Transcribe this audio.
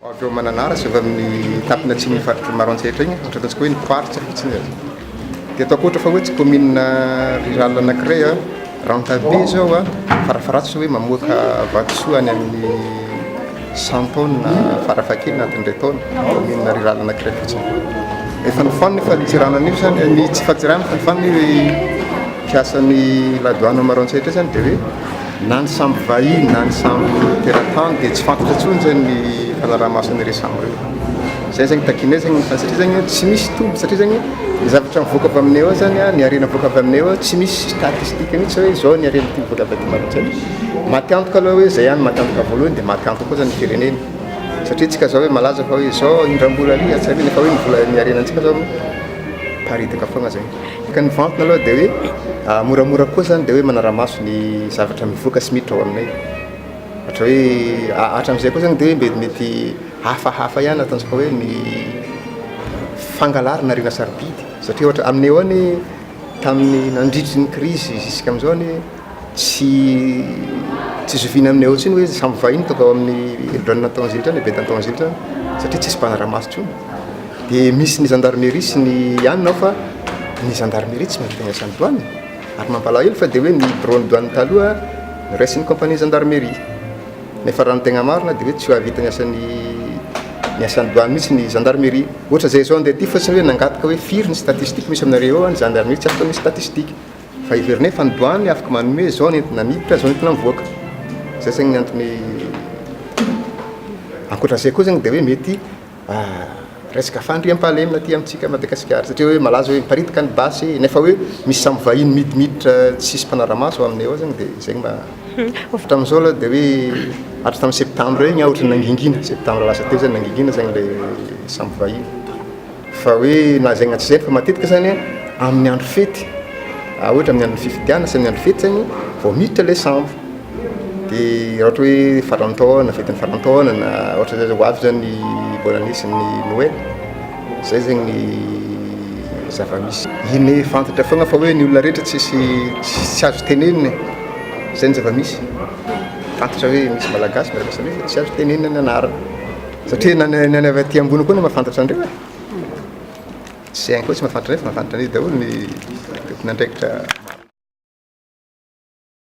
Avy ao Mananara sy avy amin'ny tampona atsimon'ny faritry ny Maroantsetra iny, ohatra ataontsika hoe ny mpivarotra fotsiny e. Dia ataoko ohatra fa hoe tsy commune rurale anankiray a, Rantabe izao a, farafaharatsa hoe mamoaka vatosoa any amin'ny cent tonnes farafahakeliny anatin'indray taona, commune rurale anankiray fotsiny. Efa nifoanana io fadintseranana io izany, ny tsy fadintseranana fa nifoanana io mpiasan'ny la douane ao Maroantsetra io izany dia hoe. Na ny sambo vahiny na ny sambo teratany dia tsy fantatra intsony zany ny fanaraha-maso an'ireo sambo ireo. Izay zany takianay zany fa satria zany tsy misy toby satria zany ny zavatra mivoaka avy aminay ao zany ny harena mivoaka avy aminay ao tsy misy statistique mihitsy hoe izao ny harena ity mivoaka avy aty Madagasikara satria maty antoka aloha hoe izay ihany maty antoka voalohany dia maty antoka koa zany ny firenena satria tsika zao hoe malaza fa hoe izao indram-bola ary atsy ary nefa hoe ny vola ny harenantsika zao miparitaka foagna zay. Ka ny vantana aloha dia hoe moramora koa izany dia hoe manara-maso ny zavatra mivoaka sy miditra ao aminay. Ohatra hoe hatramin'izay koa izany dia hoe mety hafahafa ihany ataontsika hoe ny fangalarana harena sarobidy satria ohatra aminay ao anie tamin'ny nandritry ny krizy zisika amin'izao anie Tsy tsy zoviana aminay ao intsony hoe samy vahiny tonga ao amin'ny helodranon' Antanzilitra any, Betany Tanzilitra any, satria tsisy mpanara-maso intsony. Dia misy ny zandarmeria sy ny anona ao fa ny zandarmeria tsy mahavita ny asan'ny doany e! Ary ny mampalahelo fa dia hoe ny biraon'ny doany taloha noraisin'ny kaompanin'ny zandarmeria. Nefa raha ny tegna marina dia hoe tsy hahavita ny asan'ny ny asan'ny doany mihitsy ny zandarmeria. Ohatr'izay izao andeha aty fotsiny hoe nangataka hoe firy ny statistique misy aminareo ao? Ny zandarmeria tsy afaka misy statistique. Fa heverina hoe efa ny douane afaka manome izao ny entona miditra, izao ny entona mivoaka. Izay izany ny antony ankoatra izay koa izany dia hoe mety resaka fandriampahalemina aty amintsika Madagasikara satria hoe malaza hoe miparitaka ny basy nefa hoe misy samy vahiny midimiditra tsisy mpanara-maso ao aminay ao izany dia izay mba hatramin'izao aloha dia hoe hatry tamin'ny septambra iny aho ohatran'ny nangingina, septambra lasa teo izany nangingina izany ilay samy vahiny. Fa hoe na zay na tsy zay fa matetika zany amin'ny andro fety a ohatra amin'ny andron'ny fifidianana sy amin'ny andro fety zany vao miditra ilay sambo de raha ohatra hoe farantaona fetin'ny farantaona na ohatra zay zao ho avy zany ny bonne année sy ny noely zay zegny ny zava-misy iny fantatra foagna fa hoe ny olona rehetra tsisy tsy azo tenenina e zay ny zava-misy fantatra hoe misy malagasy miaraka samy izy fa tsy azo tenenina ny anarany. Satria na ny any avy aty ambony koa no mahafantatra an'ireo e. Tsy hainy koa tsy mahafantatra an'ireo fa mahafantatra an'izy daholo ny tompon'andraikitra.